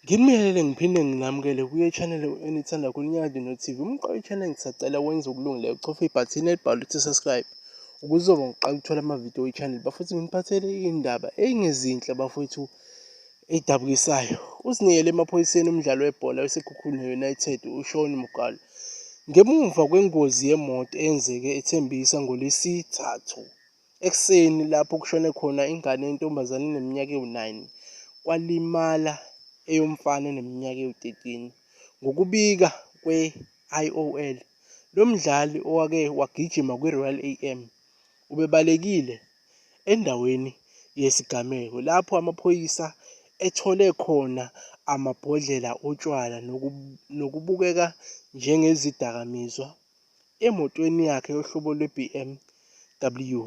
Nginibingelele ngiphinde nginamukele kuye channel enithanda kulinyakade no-TV umqoka channel ngisacela wenze ukulungile uchofe ibhathini elibhalwe ukuthi subscribe ukuzoba ngiqala ukuthola amavidiyo we-channel bafuthi nginiphathele iy'ndaba ey'ngezinhle bafowethu Edabukisayo, uzinikele emaphoyiseni umdlali webhola weSekhukhune United uShaun Mugalo ngemuva kwengozi yemoto eyenzeke eThembisa ngoLwesithathu ekuseni lapho kushone khona ingane yentombazane eneminyaka ewu-9 kwalimala eyomfana eneminyaka ewu-13. Ngokubika kwe-IOL, lo mdlali owake wagijima kwiRoyal am ubebalekile endaweni yesigameko lapho amaphoyisa ethole khona amabhodlela otshwala nokubukeka njengezidakamizwa emotweni yakhe yohlobo lwe-BMW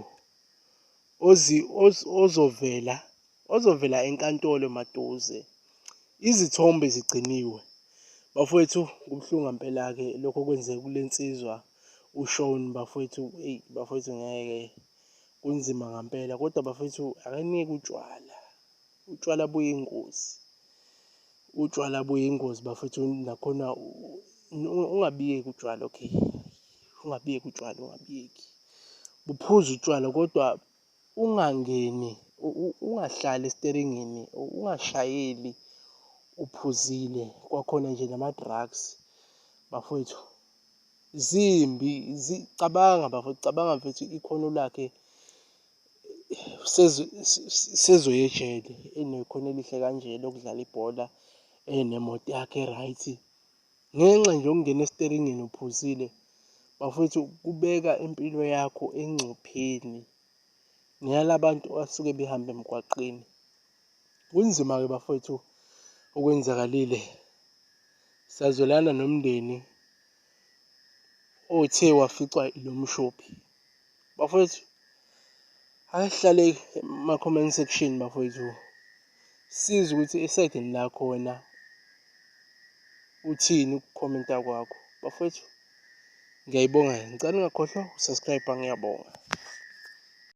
ozovela enkantolo maduze. Izithombe zigciniwe. Bafowethu kubuhlungu ngempela-ke lokho okwenzeka kule nsizwa uShaun bafowethu eyi bafowethu ngeke. kunzima ngampela kodwa bafethu akanike utshwala utshwala buyingozi utshwala buyingozi bafethu nakhona ungabiyeki utshwala okay ungabiyeki utshwala ungabiyeki buphuza utshwala kodwa ungangeni ungahlali esiteringini ungashayeli uphuzile kwakhona nje nama-drugs bafowethu zimbi zicabanga bafo cabanga mfethu ikhono lakhe sezoyejele enekhono elihle kanje lokudlala ibhola enemoto yakhe right ngenxa nje yokungena esiteringini uphuzile bafowethu kubeka impilo yakho engcupheni neyalabantu asuke behamba emgwaqeni Kunzima-ke bafowethu okwenzakalile. Sazwelana nomndeni othe waficwa ilo mshophi. Bafowethu, asihlale ema-comment section bafowethu. Siza ukuthi esayidini lakho wena uthini ukukhomenta kwakho. Bafowethu, ngiyayibonga. Ngicela ungakhohlwa usubscribe ngiyabonga.